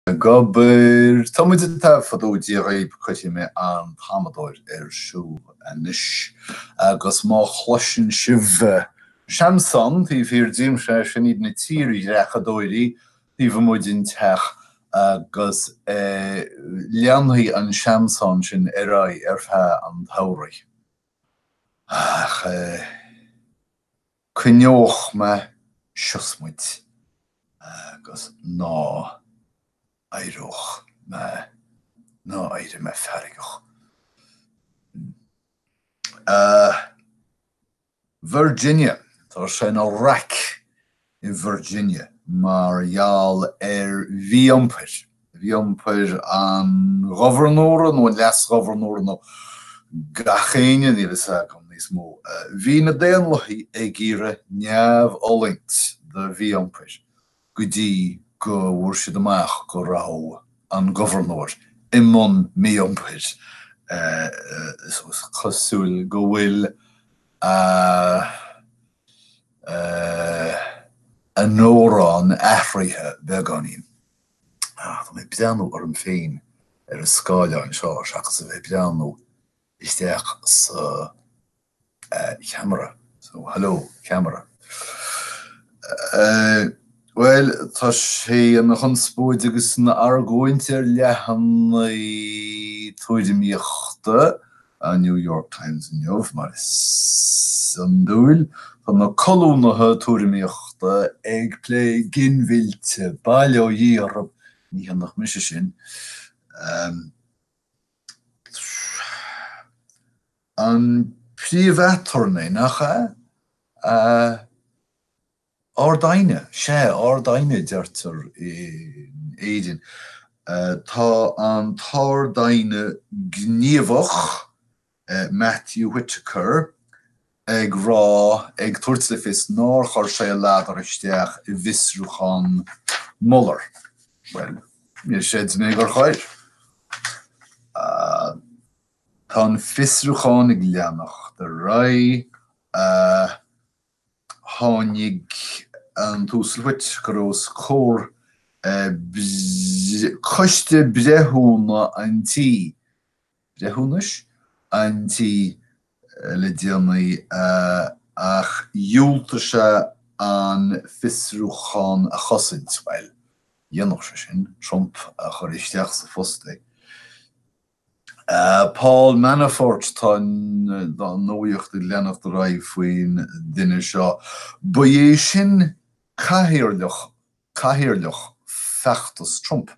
Ag obair. Tá muid ag taifeadadh Dia dhaoib, cuirfidh mé an t-amadóir ar siúl anois agus má chloiseann sibh seamsán taobh thiar díom, sea, sin iad na tírdhreachadóirí taobh amuigh den teach agus leanfaidh an seamsán sin ar aghaidh ar feadh an tsamhraidh. Ach eh. Coinneoidh mé siosmaid agus ná éireoidh mé, ná éirigh mé feargach. Virginia, tá sé ina raic i Virginia mar gheall ar mhí-iompair. mhí-iompair an ghobharnóra nó an leasghobharnóra nó gach éinne, níl a fhios agam níos mó. Bhí na Daonlathaigh ag iarraidh neamhfhulaingt do mhí-iompair go dtí go bhfuair siad amach go raibh an gobharnóir i mbun mí-iompair. Is cosúil go bhfuil a a n-amhrán athraithe beagáinín. Ach tá mé ag breathnú orm féin ar an scáileán seo seachas a bheith ag breathnú isteach sa cheamara. So, hello, ceamara. Bhuel, tá sé ina chonspóid agus ina argóint ar leathanaigh tuairimíochta an New York Times inniu, mar is iondúil, tá na colúnaithe tuairimíochta ag plé ginmhillte, bail ó Dhia orthu, ní dhéanfadh mise sin. An príomh-aturnae, nach ea? Ard Aighne? Sea, Ard-Aighne a deirtear in Éirinn. Tá an tArd-Aighne gníomhach, Matthew Whitaker, ag rá, ag tabhairt le fios nár chuir sé a ladar isteach i bhfiosrúchán Mueller. Bhuel, níor chreid mé gur chuir. Tá an fiosrúchán ag leanacht ar aghaidh. Tháinig an tUasal Whitaker os comhair Choiste Breithiúna an Tí, Breithiúnais? an Tí le déanaí ach dhiúltaigh sé an fiosrúchán a chosaint. Bhuel, dhéanfadh sé sin, Trump a chuir isteach sa phost é. Paul Manafort Tá an nuaíocht ag leanacht ar aghaidh faoin duine seo. Ba é sin cathaoirleach cathaoirleach feachtas Trump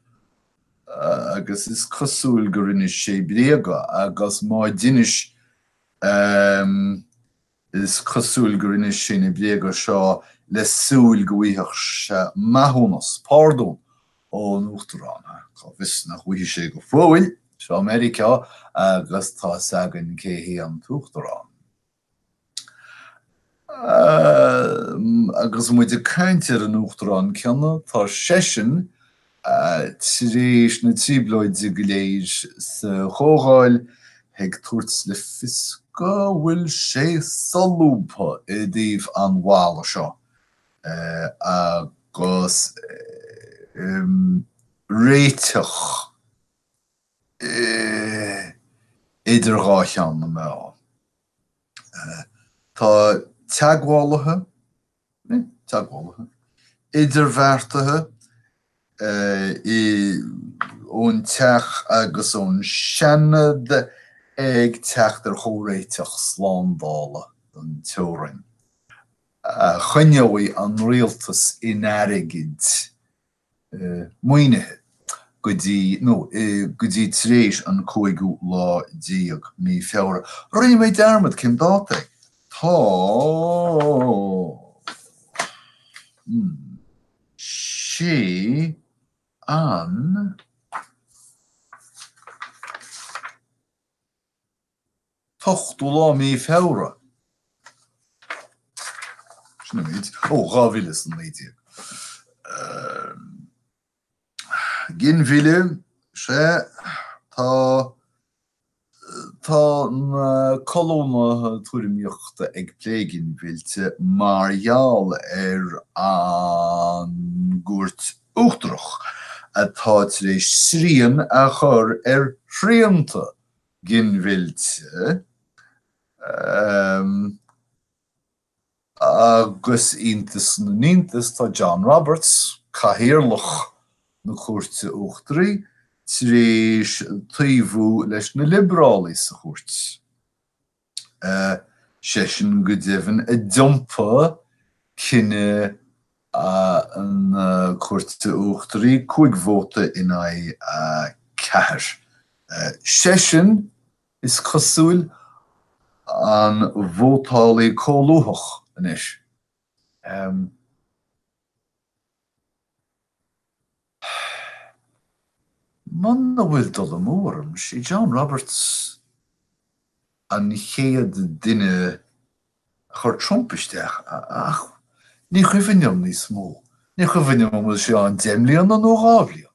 agus is cosúil gur inis sé bréaga agus má d'inis, Is cosúil gur inis sé na bréaga seo le súil go bhfaigheadh sé maithiúnas, pardún, ón Uachtarán. Cá bhfios nach bhfaighidh sé go fóill. Seo Meiriceá agus tá 'fhios againn cé hé an tUachtarán. Agus muid ag caint ar an Uachtarán céanna, tá seisean Tar éis na trioblóide go léir sa Chomhdháil, ag tabhairt le fios go bhfuil sé solúbtha i dtaobh an bhalla seo, agus réiteach idir dhá cheann na meá, tá teagmhálaithe idirbheartaithe ón Teach agus ón Seanad ag teacht ar chomhréiteach slándála don teorainn a choinneoidh an Rialtas in airgead maoinithe go dtí, nó go dtí tar éis an cúigiú lá déag mí Feabhra. Rinne mé dearmad cén dáta é. Tá sé an. t-ochtú lá mí Feabhra, sin an méid, ó dhá mhíle is a naoi déag. Ginmhilleadh, sea, tá, tá na colúnaithe tuairimíochta ag plé ginmhillte mar gheall ar an gCúirt Uachtarach atá tar éis srian a chur ar shrianta ginmhillte agus, iontas na n-iontas, tá John Roberts, Cathaoirleach na Cúirte Uachtaraí, tar éis taobhú leis na Liobrálaigh sa chúirt. seisean go deimhin a d'iompaigh cinneadh na Cúirte Uachtaraí, cúig vóta in aghaidh a ceathair. Seisean, is cosúil, an vótálaí comhlúthach anois. Muna bhfuil dul amú orm, sé John Roberts an chéad duine a chur Trump isteach, ach ní chuimhin liom níos mó. Ní chuimhin liom an bhfuil sé ann deich mbliana nó dhá bhliain.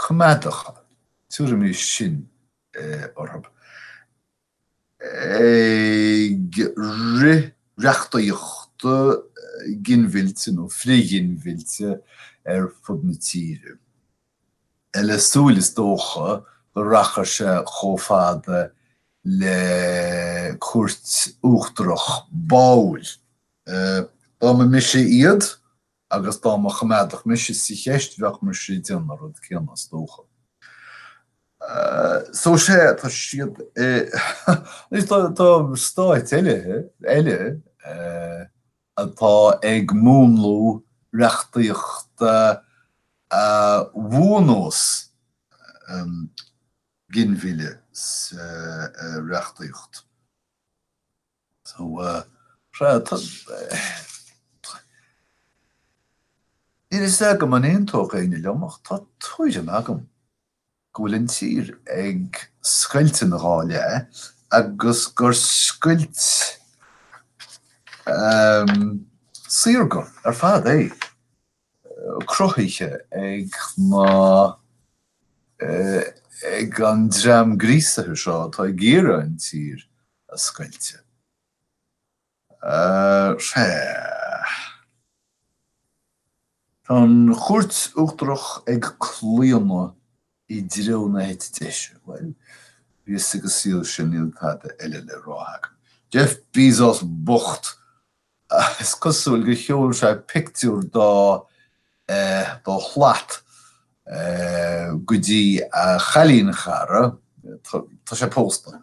coimeádacha, tuairim is, sin orthu ag rith reachtaíochta ginmhillte nó frith-ghinmhillte ar fud na tíre, le súil is dócha go rachadh sé chomh fada le Cúirt Uachtarach báúil. Dá mba mise iad, agus dá mba choimeádach mise sa cheist bheadh mise a déanamh an rud céanna is dócha. So sé tá siad tá stáit eile atá ag múnlú reachtaíochta a bhuanós ginmhilleadh sa reachtaíocht. So tá Níl fhios agam an aontódh éinne liom ach tá tuairim agam go bhfuil an tír ag scoilt ina dhá leath agus gur scoilt saorga ar fad é. cruthaithe ag na, ag an dream gríosaithe seo atá ag iarraidh an tír a scoilteadh. Sea. Tá an Chúirt Uachtarach ag claonadh i dtreo na heite deise. Bhuel, bhí 'fhios ag an saol sin, níl dada eile le rá agam. Jeff Bezos bocht! Is cosúil gur sheol sé pictiúr dá shlat go dtí a chailínchara, tá sé pósta,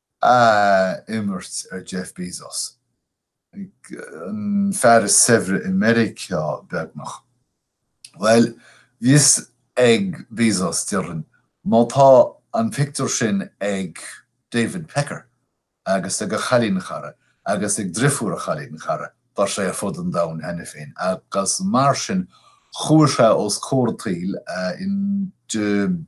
a imirt ar Jeff Bezos, an fear is saibhre i Meiriceá beagnach. Bhuel, bhí a fhios ag Bezos déarfainn, má tá an pictiúr sin ag David Pecker agus ag a chailín chara agus ag driofúr a chailín chara, tá sé ar fud an domhain cheana féin. Agus mar sin chuaigh sé os comhair an tsaoil in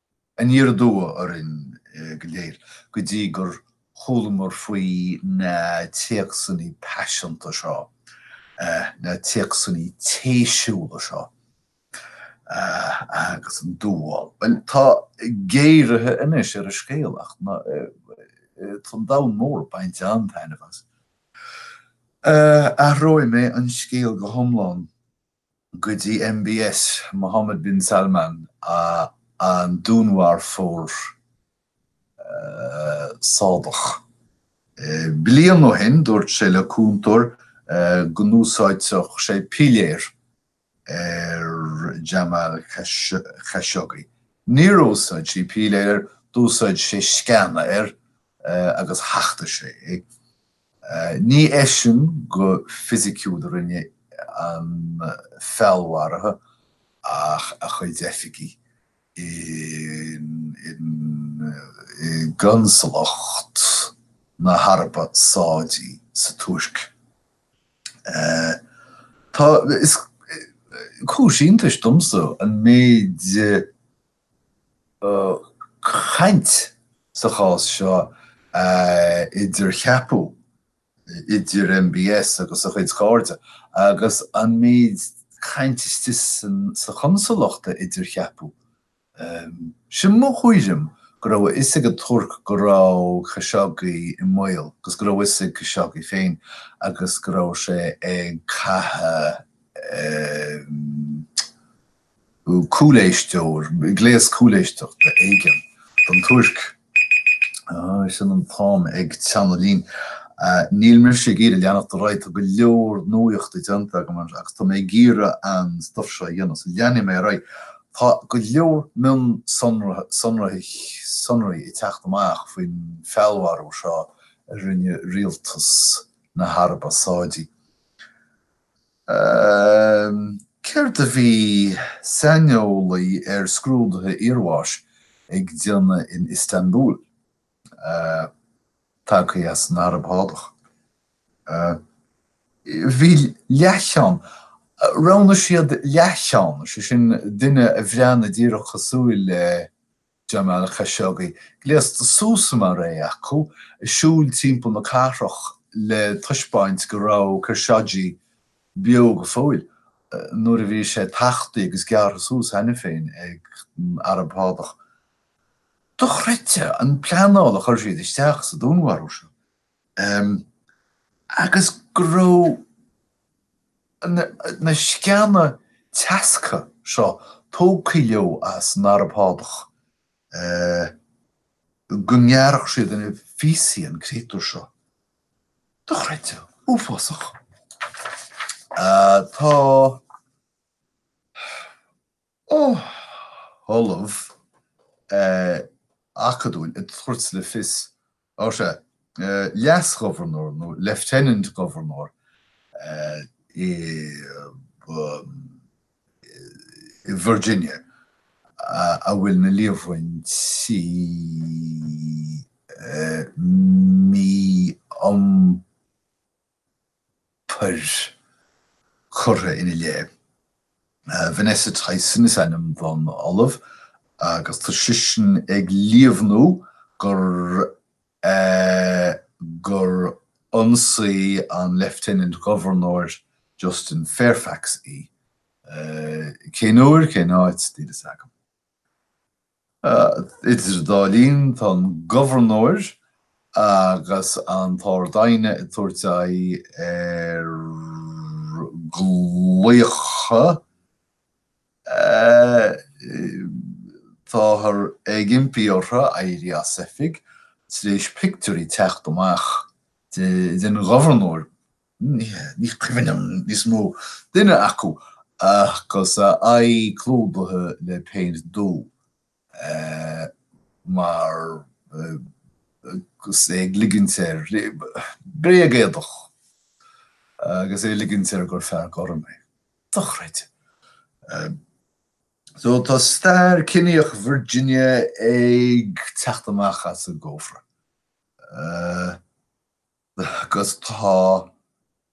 Aniar aduaidh orainn go léir go dtí gur chualamar faoi na téacsanna paiseanta seo, na téacsanna téisiúla seo agus an domhan, bhuel, tá géaraithe anois ar an scéal ach tá an domhan mór a' baint an-taitneamh as. Athróidh mé an scéal go hiomlán go dtí MBS, Mohammed bin Salman, an dúnmharfóir Sádach. Bliain ó shin, dúirt sé le cúntóir go n-úsáidfeadh sé piléar ar Jamal Khashoggi. Níor úsáid sé piléar air, d'úsáid sé sceana air agus thacht sé é. Ní eisean go fisiciúil a rinne an feallmharú ach a chuid oifigí i gConsalacht na hAraibe Sádaí sa Tuirc. Tá, is cúis iontais domsa an méid caint sa chás seo a idircheapadh idir MBS agus a chuid cairde agus an méid caint istigh sa chonsalacht a idircheapadh. Is é mo thuairim go raibh a fhios ag an Tuirc go raibh Khashoggi i mbaol agus go raibh a fhios ag Khashoggi féin agus go raibh sé ag caitheadh cúléisteoir, gléas cúléisteachta éigin don Tuirc. Ahh, sin an t-am ag teannadh linn. Níl mise ag iarraidh leanacht ar aghaidh, tá go leor nuachta déanta agam agus tá mé ag iarraidh an stuif seo a dhéanamh, so leanfaidh mé ar aghaidh. Tá go leor mionsonraí, sonraí ag teacht amach faoin feallmharú seo a rinne rialtas na hAraibe Sádaí. Céard a bhí saineolaí ar scrúduithe iarbháis ag déanamh in Istanbul, tagtha as an Araib Shádach? Bhí leathcheann, roghnaigh siad leathcheann, sé sin, duine a bhreathnaigh díreach cosúil le Jamal Khashoggi, gléasta suas mar é acu, ag siúl timpeall na cathrach le taispeáint go raibh Khashoggi beo go fóill, nuair a bhí sé tachta agus gearrtha suas cheana féin ag an Araib Shádach. Dochreidte an pleanáil a chuir siad isteach sa dúnmharú seo. agus go raibh na sceana teasctha seo tógtha leo as an Araib Shádach, go ngearrfadh siad ina phíosaí an créatúr seo. Dochreidte. Uafásach. Tá. ollamh acadúil ag tabhairt le fios, ó sea, leas-ghobharnóir nó lieutenant governor i Virginia a bhfuil na líomhaintí mí-iompair, pair curtha ina leith. Vanessa Tyson is ainm don ollamh agus tá sisean ag líomhnú gur gur ionsaigh an Lieutenant Gobharnóir Justin Fairfax í. Cén uair, cén áit, níl fhios agam. Idir an dá linn, tá an gobharnóir agus an tArd-Aighne ag tabhairt aghaidh ar ghlaocha. Táthar ag impí orthu éirí as oifig tar éis pictiúirí teacht amach den ghobharnóir ní cuimhin liom níos mó. Duine acu agus a aghaidh clúdaithe le péint dubh mar agus é ag ligint air, bréag-éadach agus é ag ligint air gur fear gorm é. Dochreidte. So tá stair ciníoch Virginia ag teacht amach as an gcófra. Agus tá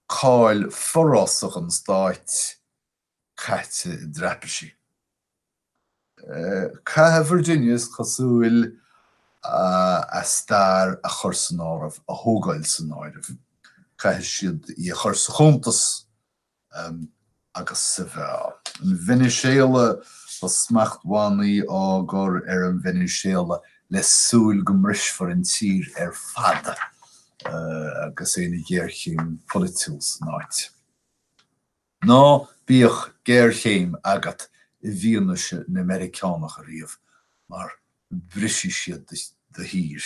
cáil forásach an stáit caite i dtraipisí. Caithfidh Virginia, is cosúil, a stair a chur san áireamh, a thógáil san áireamh. Caithfidh siad í a chur sa chuntas agus sa mheá. An Veiniséala, Tá smachtbhannaí á gcur ar an Veiniséala le súil go mbrisfear an tír ar fad agus é ina ghéarchéim pholaitiúil san áit. Ná bíodh géarchéim agat i bhfianaise na Meiriceánach ariamh mar brisfidh siad do thír.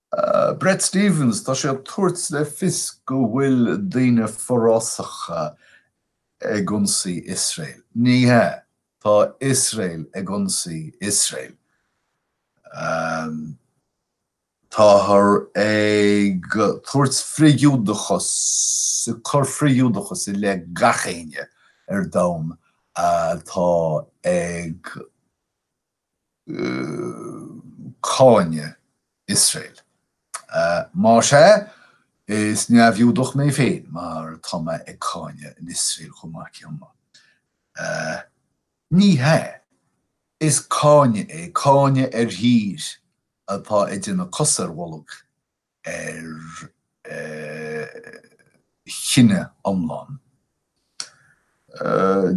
Bret Stephens, Tá sé ag tabhairt le fios go bhfuil daoine forásacha ag ionsaí Iosrael. Ní hea, tá Iosrael ag ionsaí Iosrael. Táthar ag tabhairt frith-Ghiúdachas, ag cur frith-Ghiúdachas i leith gach éinne ar domhan atá ag cáineadh Iosrael. Más ea, is neamh-Ghiúdach mé féin mar tá mé ag cáineadh an Iosrael chomh maith céanna. Ní hea. Is cáineadh é, cáineadh ar thír atá ag déanamh cos ar bholg ar chine iomlán.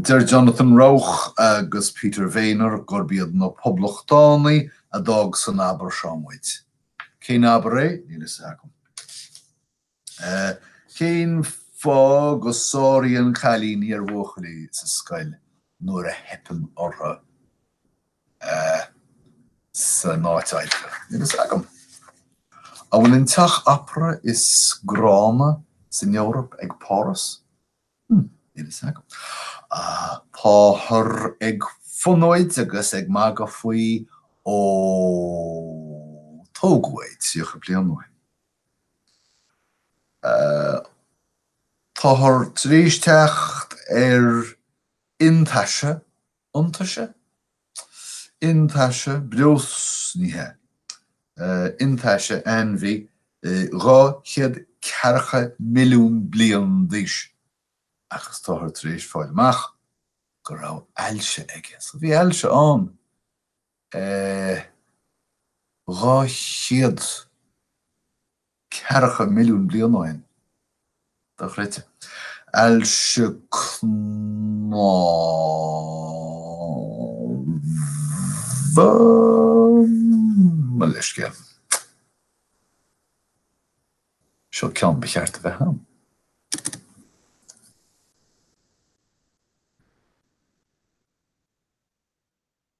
Deir Jonathan Rauch agus Peter Wehner gurb iad na Poblachtánaigh a d'fhág san abar seo muid. Cén abar é? Níl fhios agam. Cén fáth go sáraíonn cailíní ar bhuachaillí sa scoil nuair a theipeann orthu? san áit oibre. Níl fhios agam. An bhfuil an teach opera is gránna san Eoraip ag Páras? Hm, níl fhios agam. Táthar ag fonóid agus ag magadh faoi ó tógadh é tríocha bliain ó shin. Táthar tar éis teacht ar iontaise iontaise, iontaise breos, ní hea, iontaise ainmhí dhá chéad ceathracha milliún bliain d'aois, agus táthar tar éis fáil amach go raibh ailse aige. So bhí ailse ann. Dhá chéad ceathracha milliún bliain ó shin. Dochreidte. Ailse cnámha? Mo leithscéal. Seo ceann ba cheart a bheith ann.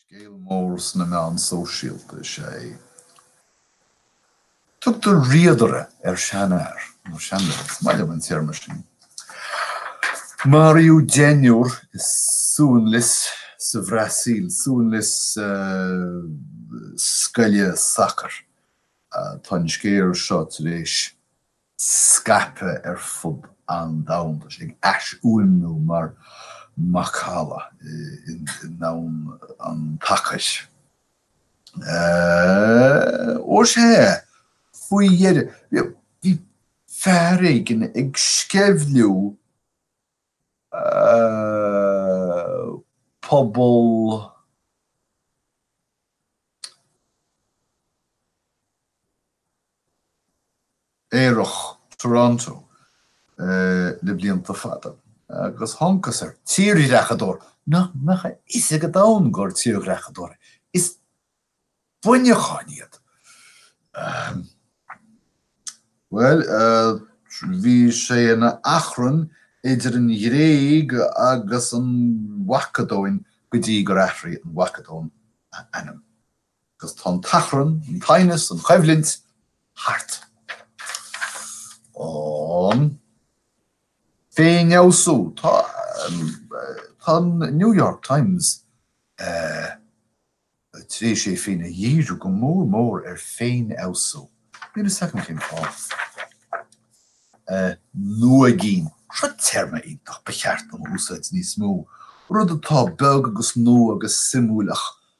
Scéal mór sna meáin sóisialta is ea é. Tugtar 'riadaire' ar sheanfhear, ar sheanfhear, is maith liom an téarma sin. Maraíodh deichniúr i suanlios sa Bhrasaíl, suanlios scoile sacair. Tá an scéal seo tar éis scaipthe ar fud an domhain. Tá sé ag aisfhuaimniú mar mhacalla i ndomhan an tsacair. Ó sé, faoi dheireadh, bhí fear éigin ag sceimhliú pobal aerach Toronto le blianta fada agus thángthas ar tírdhreachadóir nach mbeadh a fhios ag an domhan gur tírdhreachadóir é. Is buinneacháin iad. Bhuel, bhí sé ina achrann idir an Ghréig agus an Mhacadóin go dtí gur athraigh an Mhacadóin a ainm. Agus tá an t-achrann, an t-aighneas, an choimhlint thart. Féinfheabhsú. Tá, tá an New York Times tar éis é féin a dhíriú go mór mór ar féinfheabhsú. Níl fhios agam cén fáth. Nuaigín. Seo téarma iontach ba cheart dom a úsáid níos mó. Rud atá beag agus nua agus suimiúil ach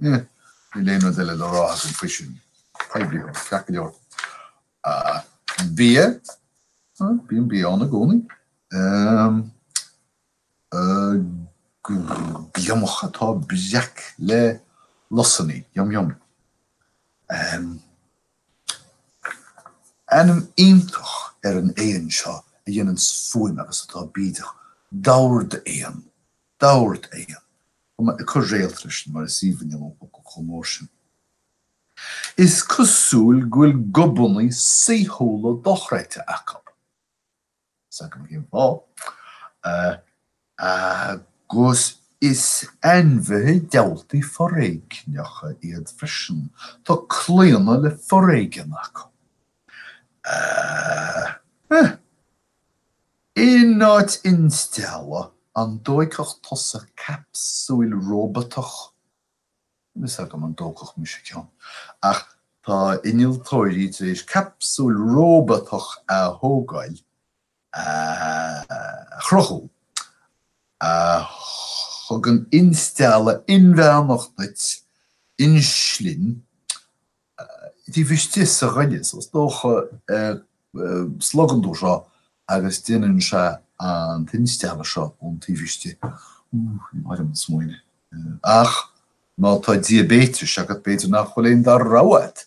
Níl aon rud eile le rá againn faoi sin. Poibliú, ceart go leor. Bia. Bíonn bia ann i gcónaí. Gliomach atá breac le lusanna. Yum yum. Ainm iontach ar an éan seo a dhéanann fuaim agus atá bídeach. Dordéan. Dordéan. Tá mé ag cur réalt freisin mar is aoibhinn liom an focal chomh mór sin. Is cosúil go bhfuil gobannaí saoithiúla dochreidte acu. Níl fhios agam cén fáth. Agus is ainmhithe díoltais foréigneacha iad freisin. Tá claonadh le foréigean acu. Ahh. Ahh. In áit instealladh, an dtógfadh tusa capsúil róbatach? Níl fhios agam an dtógfadh mise ceann, ach tá innealtóirí tar éis capsúil róbatach a thógáil, a chruthú, a thugann instealladh inmheánach duit, inslin, taobh istigh sa ghoile, is dócha, slogann tú seo agus déanann sé an t-instealladh seo ón taobh istigh. Ní maith liom an smaoineamh. Ach má tá diabetes agat, b'fhéidir nach bhfuil an dara rogha agat.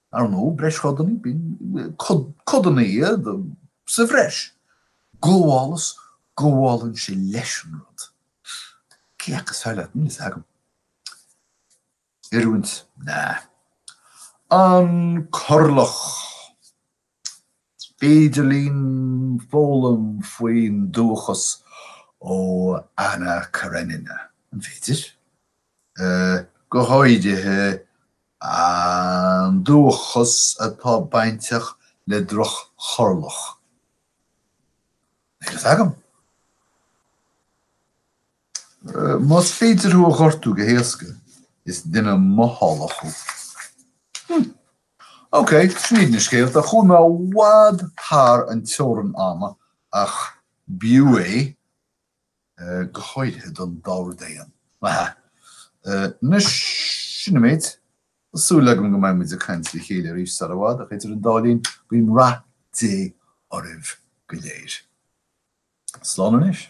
Ar ndóigh, breis-chodanna, b'in codanna iad, sa bhreis. Gabhálas, gabhálann sé leis an rud. Cé acu is fearr leat, níl a fhios agam. Oiriúint? Nah. An corrlach. Féidir linn foghlaim faoin dúchas ó Anna Karenina, an féidir? Go háirithe an dúchas atá bainteach le droch-chorrlach. Níl fhios agam. Más féidir thú a ghortú go héasca, is duine mothálach thú. Ok, sin iad na scéalta, chuaigh mé i bhfad thar an teorann ama ach b'fhiú é, go háirithe don dordéan, má hea. Anois, sin an méid. Tá súil agam go mbeidh muid ag caint le chéile arís sar i bhfad ach idir an dá linn, bíodh rath Dé oraibh go léir. Slán anois.